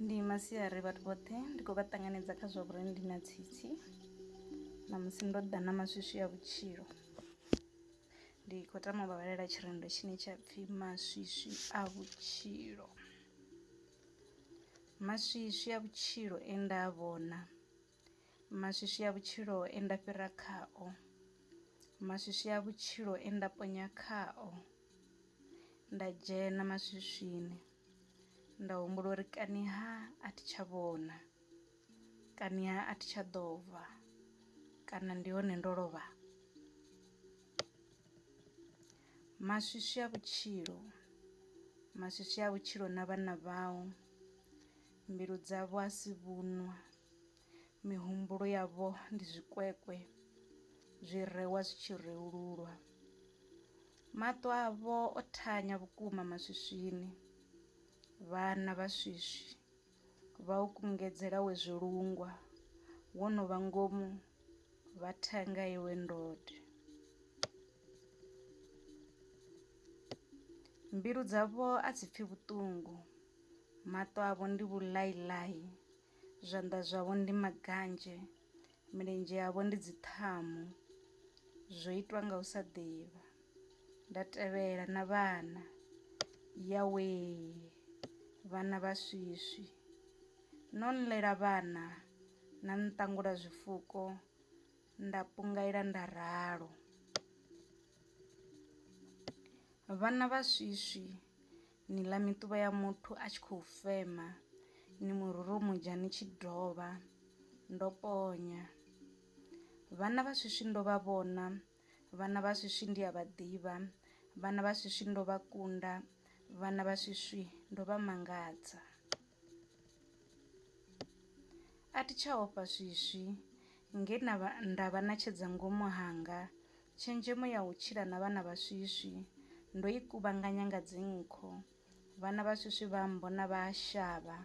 Ndi masiari vhathu vhoṱhe ndi khou vha ṱanganedza kha zwa vhurereli ndi na tsitsi ṋamusi ndo ḓa na maswiswi a vhutshilo. Ndi khou tama u vha vhalela tshirendo tshine tsha pfhi maswiswi a vhutshilo. Maswiswi a vhutshilo e nda a vhona, maswiswi a vhutshilo e nda fhira khao, maswiswi a vhutshilo e nda ponya khao. Nda dzhena maswiswini nda humbula uri kani ha a thi tsha vhona kani ha a thi tsha ḓo bva kana ndi hone ndo lovha. Maswitswi a vhutshilo maswitswi a vhutshilo na vhana vhau mbilu dzavho a si vhuṅwe Mihumbulo yavho ndi zwikwekwe zwi rewa zwi tshi reululwa. Maṱo avho o thanya vhukuma maswiswini. Vhana vha swiswi vha u kungedzela we zwilungwa wo no vha ngomu vha thanga iwe ndode. Mbilu dzavho a dzi pfi vhuṱungu, maṱo avho ndi vhulaiḽai Zwanḓa zwavho ndi maganzhe, milenzhe yavho ndi dziṱhamu, zwo itwa nga u sa ḓivha. Nda tevhela na vhana, Yawe, vhana vha swiswi. No nḽela vhana, na nṱangula zwifuko, nda pungaila nda ralo. Vhana vha swiswi, Ni ḽa miṱuvha ya muthu a tshi khou fema, ni mu rurumudzha ni tshi dovha. Ndo ponya vhana vha swiswi, ndo vha vhona vhana vha swiswi, ndi a vha ḓivha vhana vha swiswi, ndo vha kunda vhana vha swiswi, ndo vha mangadza. A thi tsha ofha swiswi nge na vha nda vha na tshedza ngomu hanga tshenzhemo ya u tshila na vhana vha swiswi ndo i kuvhanganya nga dzinkho vhana vha swiswi vha mbona vha shavha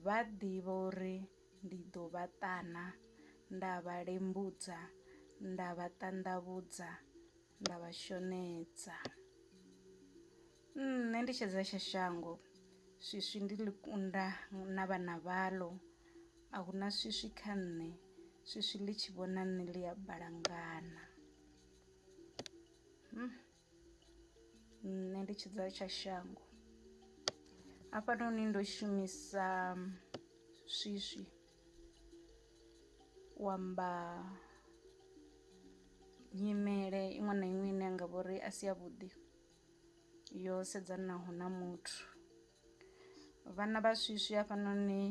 vha ḓivha uri ndi ḓo vha ṱana nda vha lembudza nda vha ṱanḓavhudza nda vha shonedza. Nṋe ndi tshedza tsha shango swiswi ndi ḽi kunda na vhana vhaḽo a hu na swiswi kha nṋe swiswi ḽi tshi vhona nṋe ḽi a balangana hmm. nṋe ndi tshidza tsha shango hafhanoni ndo shumisa swiswi u amba nyimele iṅwe na iṅwe ine ya nga vhori a si ya vhuḓi yo sedzanaho na muthu vhana vha swiswi hafhanoni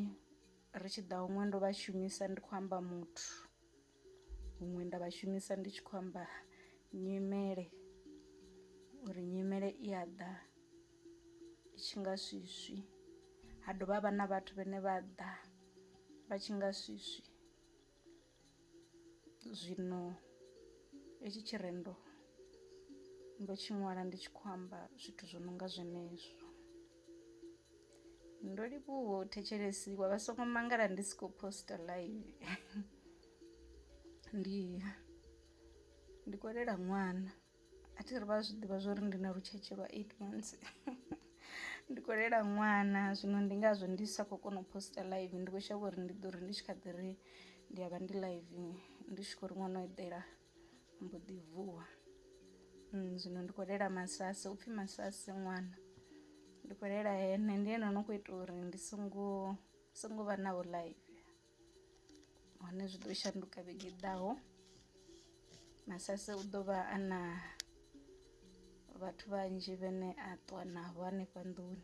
ri tshi ḓa huṅwe ndo vha shumisa ndi khou amba muthu huṅwe nda vha shumisa ndi tshi khou amba nyimele uri nyimele i a ḓa i tshi nga swiswi ha dovha ha vha na vhathu vhane vha ḓa vha tshi nga swiswi. zwino hetshi tshirendo ndo tshi ṅwala ndi tshi khou amba zwithu zwo no nga zwenezwo ndo livhuwa u thetshelesiwa vha songo mangala ndi si khou posta live ndi ndi kolela ṅwana a thi ri vha zwi ḓivha zwori ndi na lutshetshe lwa eight months ndi khou lela ṅwana zwino ndi ngazwo ndi sa khou kona u post live ndi kho shavha uri ndi ḓo ri ndi tshi kha ḓi ri ndi a vha ndi live ndi tshi khou ri ṅwana o eḓela mbo ḓi vuwa zwino ndi khou lela masasi upfhi masasi ṅwana ndi khou lela ene ndi ene no kho ita uri ndi songo songo vha naho live. hone zwi ḓo shanduka vhege i ḓaho masase u ḓo vha a na vhathu vhanzhi vhane a ṱuwa navho hanefha nḓuni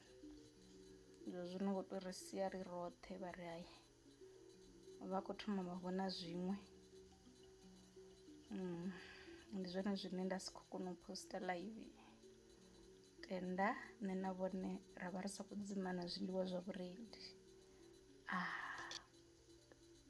zwo zwino ngo tou ri sia ri roṱhe vha ri hayi vha khou thoma vha vhona zwiṅwe mm, ndi zwone zwine nda si khou kona u posta live tenda nṋe na vhone ra vha ri sa khou dzimana zwiḽiwa zwa vhurendi.